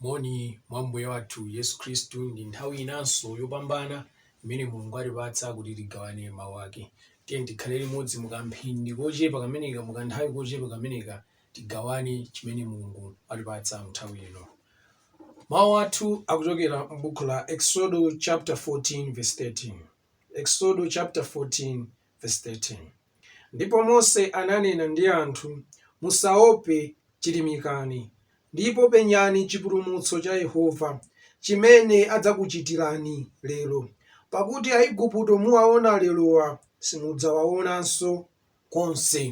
moni mwa mbuye wathu yesu khristu ndi nthawi inanso yopambana imene mulungu atipatsa kuti tigawane mawu ake tiyeni tikhale limodzi mukamphindi kochepa kameneka mukanthawi kochepa kameneka tigawane chimene mulungu atipatsa mnthawi ino Mawu athu akuchokera m'buku la Eksodo chapter 14 verse 13. Eksodo chapter 14 verse 13. Ndipo Mose ananena ndi anthu, Musaope, chirimikani, ndipo penyani chipulumutso cha Yehova, chimene adzakuchitirani lero, pakuti Aigupto muwaona lerowa simudzawaonanso konse.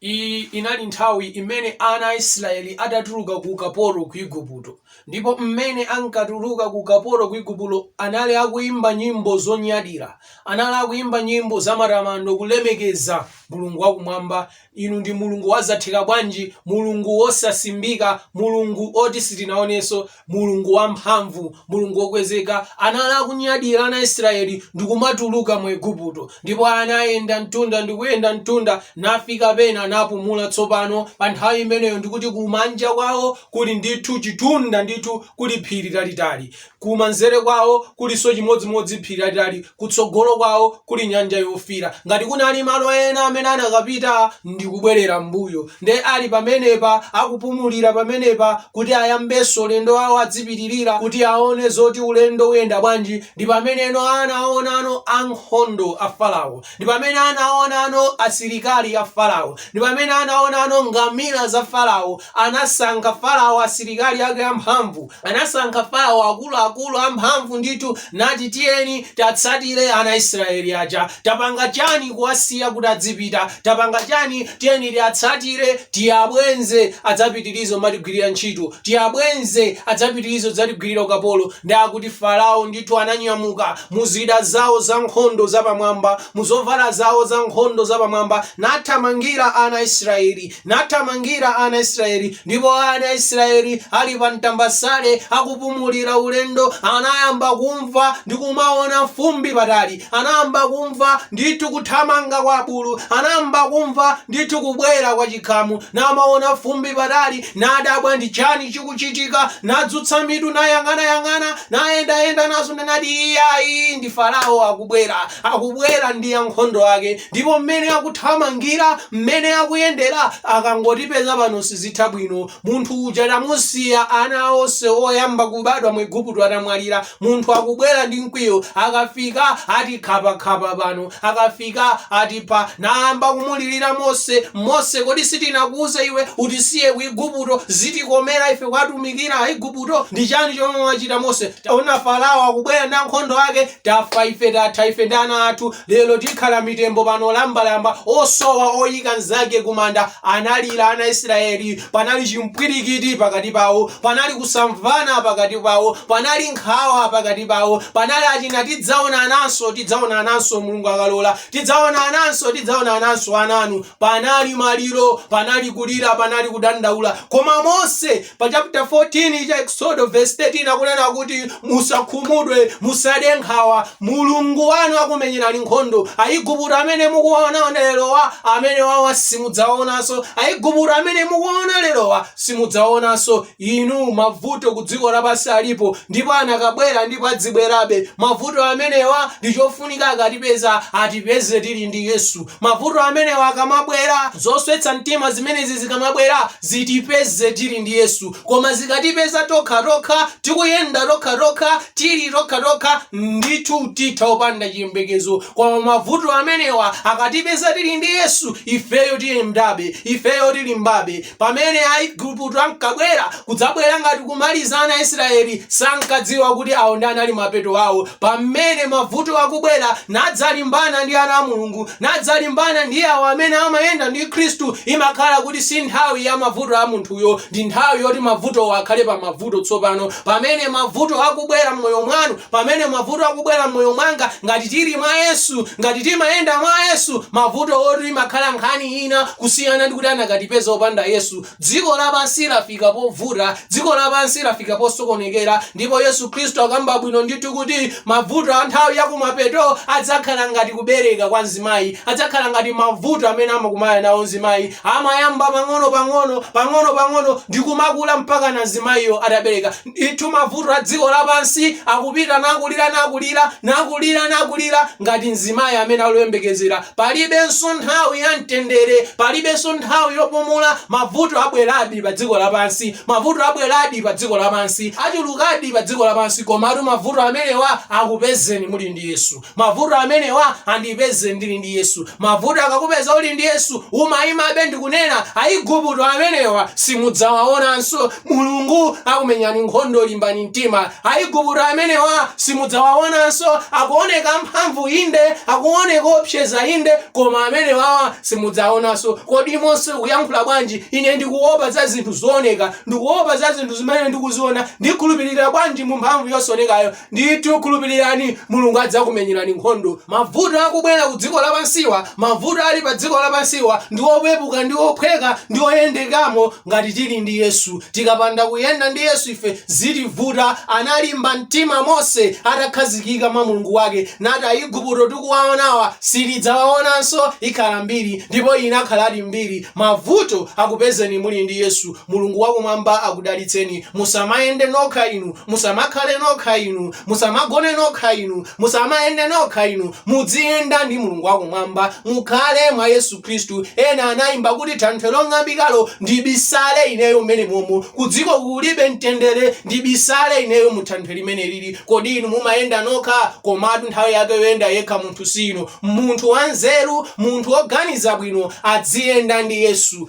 Iyi inali nthawi imene ana a Isiraeli adatuluka ku ukapolo ku Iguputo. Ndipo mmene ankatuluka ku ukapolo ku Iguputo anali akuimba nyimbo zonyadira. Anali akuimba nyimbo zamatamando kulemekeza Mulungu wakumwamba. Inu ndi Mulungu wazatheka bwanji, Mulungu wosasimbika, Mulungu woti sitinaonenso. Mulungu wamphamvu, Mulungu wokwezeka, anali akunyadira ana a Israeli ndi kumatuluka mu Eguputo, ndipo anayenda mtunda ndi kuyenda mtunda, nafika pena napumula. Tsopano, pa nthawi imeneyo, ndi kuti kumanja kwawo kuli ndithu chitunda ndithu, kuli phiri lalitali, kumanzere kwawo kulinso chimodzimodzi phiri lalitali, Kutsogolo kwawo kuli Nyanja Yofiira. Ngati kunali malo ena amene anakapita ndi kubwerera m'mbuyo, nde ali pamenepa, akupumulira pamenepa kuti ayambenso ulendo wawo, adzipitirira kuti aone zoti ulendo uyenda bwanji. Ndi pameneno anaonano ankhondo a Farao, ndi pamene anaonano asilikali a Farao, ndi pamene anaonano ngamila za Farao. Anasankha Farao asilikali ake amphamvu, anasankha Farao akuluakulu amphamvu ndithu, nati, Tiyeni, tiatsatire ana a Israyeli aja. Tapanga chani kuwasiya kuti adzipita? Tapanga chani? Tiyeni tiatsatire, tiabwenze adzapitirize kumatigwirira ntchito, tiabwenze adzapitirize kudzatigwirira ukapolo. Nde akuti Farao ndithu ananyamuka muzida zawo zankhondo zapamwamba, muzovala zawo zankhondo zapamwamba, nathamangira ana a Israyeli. nathamangira ana Israyeli, ndipo ana Israyeli ali pa mtambasale akupumulira ulendo, anayamba kumva ndi kumaona fumbi patali, anayamba kumva ndithu kuthamanga kwa abulu, anayamba kumva ndithu kubwera kwa chikhamu, namaona fumbi patali, nadabwa ndi chani chikuchitika, nadzutsa mitu nayang'anayang'ana, nayendayenda nazonda, nati, Iyayi, ndi Farao akubwera, akubwera ndi ankhondo ake. ndipo mmene akuthamangira, mmene akuyendera, akangotipeza pano sizitha bwino. Munthu uja tamusiya, ana onse oyamba kubadwa mu Iguputo atamwalira. Munthu akubwera ndi mkwiyo, akafika atikhapakhapa pano, akafika atipha. Nayamba kumulirira Mose, Mose, kodi sitinakuuza iwe utisiye ku Iguputo? Zitikomera ife kuwatumikira Aiguputo? Ndi chani chomwe wachita Mose? Taona Farao akubwera ndi ankhondo ake, Tafa ife tatha ife ndi ana athu lero tikhala mitembo pano lambalamba osowa oyika mnzake kumanda analira ana Israeli panali chimpwirikiti pakati pawo panali kusamvana pakati pawo panali nkhawa pakati pawo panali achina tidzaonananso tidzaonananso Mulungu akalola tidzaonananso tidzaonananso ana anu panali maliro panali kulira panali kudandaula koma Mose Pa chapter 14 cha Eksodo verse 13 akunena kuti musakhumudwe, musade nkhawa, Mulungu wanu akumenyerani nkhondo. Aiguputo amene mukuonaona lerowa, amenewawa simudzaonanso. Aiguputo amene mukuona lerowa simudzaonanso. Inu, mavuto kudziko lapansi alipo, ndipo anakabwera ndipo adzibwerabe. Mavuto amenewa ndi chofunika akatipeza, atipeze tili ndi Yesu. Mavuto amenewa akamabwera, zoswetsa mtima zimenezi zikamabwera, zitipeze tili ndi Yesu. Koma zikatipeza tokhatokha, tikuyenda tokhatokha, tili tokhatokha, ndithu titha opanda chiyembekezo. Koma mavuto amenewa akatipeza tili ndi Yesu, ifeyo tiyendabe, ifeyo tilimbabe. Pamene Aiguputo ankabwera kudzabwera ngati kumaliza ana Israeli sankadziwa kuti awo ndi anali mapeto awo pamene mavuto akubwera nadzalimbana ndi ana a Mulungu nadzalimbana ndi awo amene amayenda ndi Khristu imakhala kuti si nthawi ya mavuto a munthuyo ndi nthawi yoti mavutowo akhale pa mavuto tsopano pamene mavuto akubwera mmoyo mwanu Pamene mavuto akubwera mmoyo mwanga, ngati tili mwa Yesu, ngati timayenda mwa Yesu, mavutowotu imakhala nkhani ina kusiyana ndikuti anakatipeza opanda Yesu. Dziko lapansi lafika povuta, dziko lapansi lafika posokonekera, ndipo Yesu Khristu akamba bwino ndithu kuti mavuto a nthawi ya kumapeto adzakhala ngati kubereka kwa mzimayi, adzakhala ngati mavuto amene amakumana nawo mzimayi, amayamba pang'ono pang'ono, pang'ono pang'ono, ndikumakula mpakana mzimayiyo atabereka. Ndithu mavuto a dziko lapansi akupita nakulira nakulira nakulira nakulira ngati mzimayi amene ali oyembekezera. Palibenso nthawi ya mtendere, palibenso nthawi yopumula. Mavuto abweradi pa dziko lapansi, mavuto abweradi pa dziko lapansi, achulukadi pa dziko lapansi, komatu mavuto amenewa akupezeni muli ndi Yesu. Mavuto amenewa andipeze ndili ndi Yesu. Mavuto akakupeza uli ndi Yesu, umaimabe ndi kunena, Aiguputo amenewa simudzawaonanso. Mulungu akumenyani nkhondo, limbani mtima. Aiguputo amenewa simudzawaonanso. Akuoneka mphamvu inde, akuoneka oopseza inde, koma amenewawa simudzawaonanso. Kodi Mose ukuyankhula bwanji? Ine ndikuopa za zinthu zooneka. Ndikuopa za zinthu zimene ndikuziona. Ndikhulupirira bwanji mu mphamvu yosaonekayo? Ndithu khulupirirani, Mulungu adzakumenyerani nkhondo. Mavuto akubwera ku dziko lapansiwa, mavuto ali pa dziko lapansiwa ndi opepuka ndi ophweka ndi oyendekamo ngati tili ndi Yesu. Tikapanda kuyenda ndi Yesu ife zitivuta, analimba mtima Mose atakhazikika mwa Mulungu wake nati Aiguputo tikuwaonawa sitidzawaonanso, ikhala mbiri ndipo inakhaladi mbiri. Mavuto akupezeni muli ndi Yesu. Mulungu wa Kumwamba akudalitseni. Musamayende nokha inu. Musamakhale nokha inu. Musamagone nokha inu. Musamayende nokha inu. Mudziyenda ndi Mulungu wa Kumwamba. Mukhale mwa Yesu Khristu. Ena anayimba kuti Thanthwe long'ambikalo, ndibisale ineyo mmenemomo. Kudziko kulibe mtendere, ndibisale ineyo mu Thanthwe limenelili. Kodi inu mumayenda nokha? Komatu nthawi yake yoyenda yekha munthu siino. Munthu wanzeru, munthu woganiza bwino adziyenda ndi Yesu.